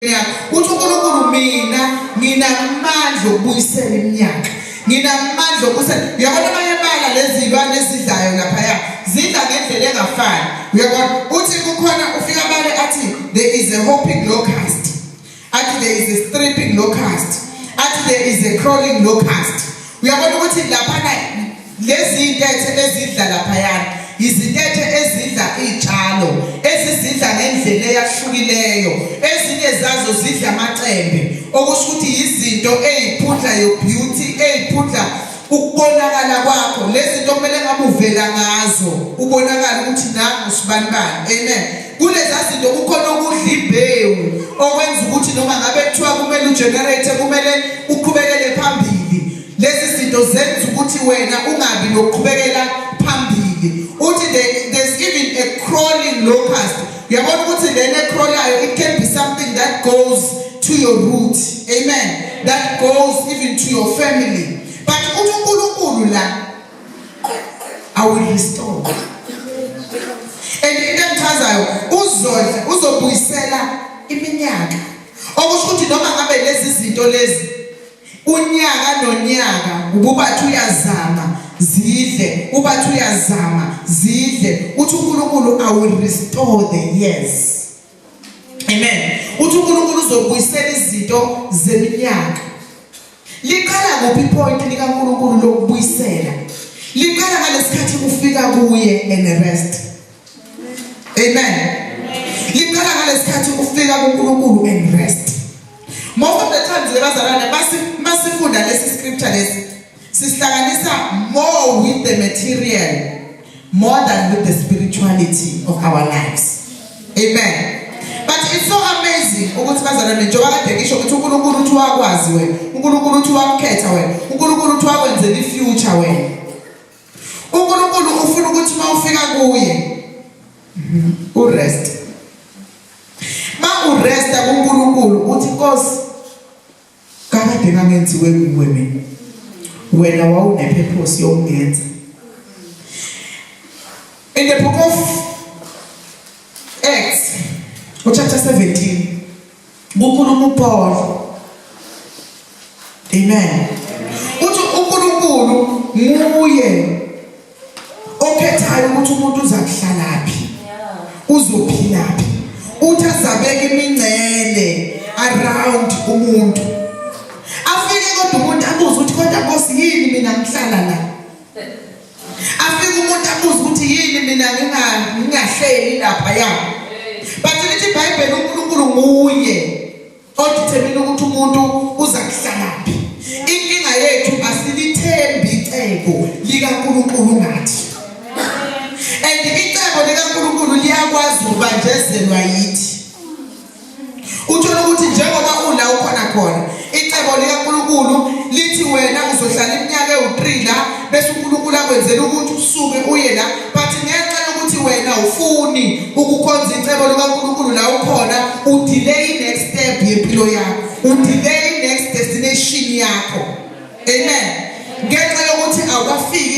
uthi uNkulunkulu mina nginamandla okubuyisela iminyaka nginamandla okubuyisela uyabona abanye abala lezi zilwane ezidlayo laphaya zidla ngendlela engafani uyabona uthi kukhona ufika abale athi there is a hopping locust athi there is a stripping locust athi there is a crawling locust uyabona ukuthi laphana lezi iy'ntethe ezidla laphayana yizintethe ezidla iy'tshalo ezizidla ngendlela eyahlukileyo ezinye zazo zidla amacembe okusho ukuthi yizinto ey'phudla yobeauty ey'phudla ukubonakala kwakho lezi zinto kumele ngabe uvela ngazo ubonakala ukuthi nangu sibanibani amen Kuleza zinto kukhona ukudla imbewu okwenza ukuthi noma ngabe kuthiwa kumele ugenerate kumele uqhubekele phambili. Lezi zinto zenza ukuthi wena ungabi nokuqhubekela phambili. Uthi there's even a crawling locust. Uyabona ukuthi lena ecrawlayo it can be something that goes to your root. Amen. That goes even to your family. But uNkulunkulu la I will restore. And into engichazayo uzodla uzobuyisela iminyaka. Okusho ukuthi noma ngabe lezi zinto lezi unyaka nonyaka ububathi uyazama zidle ubathi uyazama zidle uthi uNkulunkulu I will restore the years. Amen. Uthi uNkulunkulu uzobuyisela izinto zeminyaka. Liqala kuphi point lika uNkulunkulu lokubuyisela? Liqala ngalesikhathi kufika kuye and the rest. Amen. Liqala ngalesikhathi kufika kuNkulunkulu and rest. Most of the times abazalwane basifunda lesi scripture lesi Sisihlanganisa more with the material more than with the spirituality of our lives. Amen. But it's so amazing ukuthi bazana njengoba kade ngisho ukuthi uNkulunkulu uthi wakwazi wena, uNkulunkulu uthi wakukhetha wena, uNkulunkulu uthi wakwenzela ifuture wena. uNkulunkulu ufuna ukuthi uma ufika kuye urest. Ma uresta kuNkulunkulu uthi Nkosi Kakade kangenziwe nguwe mina. Wena wawunepurpose yokungenza. In the book of Acts, chapter 17, kukhuluma uPaul. Amen. Uthi uNkulunkulu nguye okhethayo ukuthi umuntu uza kuhlalaphi uzophilaphi uthi azabeke imingcele around umuntu afike kodwa umuntu abuze ukuthi kodwa bosi yini mina ngihlala la afike umuntu abuze ukuthi yini mina ngingahleli lapha ya but lithi ibhayibheli unkulunkulu nguye odithemile ukuthi umuntu uza kuhlalaphi inkinga yethu asilithembi icebo likaNkulunkulu ngathi and icebo likaNkulunkulu liyakwazi ukubanjezelwa yithi uthola ukuthi njengoba ula ukhona khona icebo likaNkulunkulu lithi wena uzohlala iminyaka ewu3 la bese uNkulunkulu akwenzela ukuthi usuke uye la but ngenxa yokuthi wena ufuni ukukhonza icebo likaNkulunkulu la ukhona udelay next step yempilo yakho udelay next destination yakho amen ngenxa yokuthi awafiki